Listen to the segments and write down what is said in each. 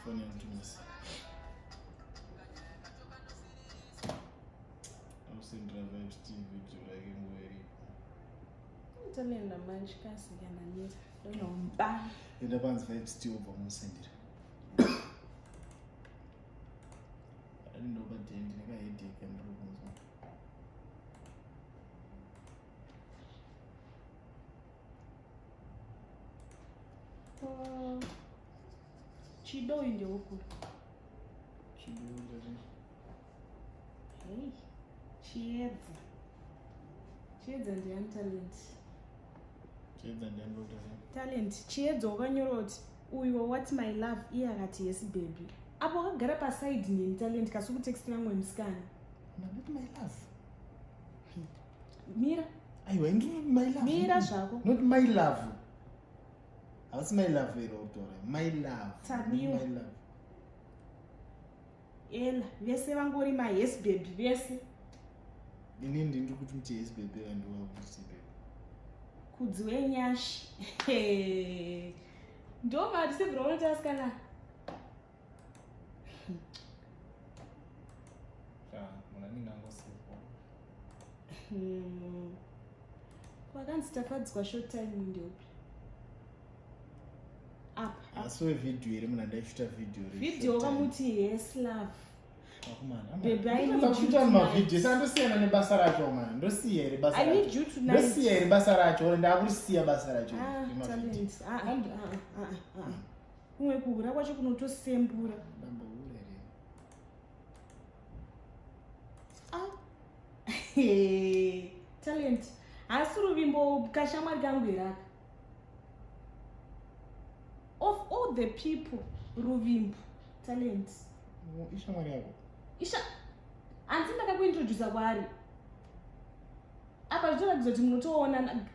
Phone yangu tumisa. Au sendra vibes TV video like ngweri. Ntalenda manje kasi kana nita. Dono mba. Enda panzi vibes TV uba musendira. Ani ndo badendi neka headache ndro kunzwa. Uh, chido uyu ndeukuru hei chiedza chiedza ndiani talent chiedza ndiani talent chiedza wakanyorwa kuti uyu wawat my love iye akati yes baby apo wakagara pasaidi neni talent kasi kutext namwe musikana my love mira aiwa indi my love mira zvako not my love havasi my love here utora my love tadiwa my love ela vese vangori ma yes baby vese ini ndi ndiri kuti muti yes baby and wa kuti baby kudzi wenyashi ndo mati sevira unotasikana hmm. kwakanzi tafadzwa short time ndeupi asi wevideo iri muna ndaichuta video video kamuti yes love ndosiyana nebasa racho mani ndosiya iri basandosiya iri basa racho ndakurisiya basa racho ah, kumwe kuhura kwacho kunotosembura ah. talent haasi ruvimbo kashamwari kangu iraka of all the people ruvimbo talent ishamwari yako isha hanzi ndakakuintrodusa kwaari apa zvitoratidza kuti munotoonana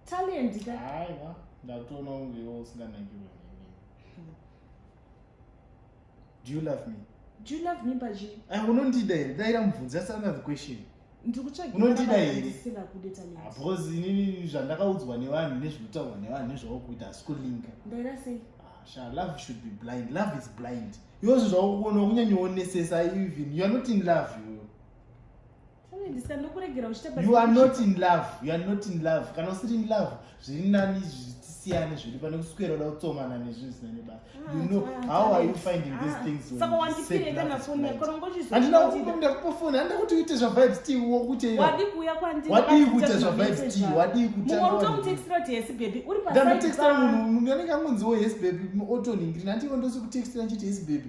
talent ka aiwa ndatoona kunge iwo usinganakirwe neni do you love me do you love me paji ah, unondida here daira mubvunzi that's another question unondida here ah, because inini zvandakaudzwa nevanhu nezvinotaurwa nevanhu nezvaukuita hasi kulinga ndaira sei sha love should be blind love is blind iwozvo zvakuona kunyanyowonesesa even youare not in love iwewe you are not in love you are not in love kana usiri in love zviri nani zvitisiyane zviri pane kuswera uda kutsomana nezvinhu zvisina nebasa ah, you know how are you finding these ah. things andina kukupa muda kupa foni andida kuti uite zvavibes t wo kuteira wadii kuita zvavibes t wadii kutandotextira munhu anenge angonziwo yes baby otoningirina andiwo ndosikutekstira nchiti yes baby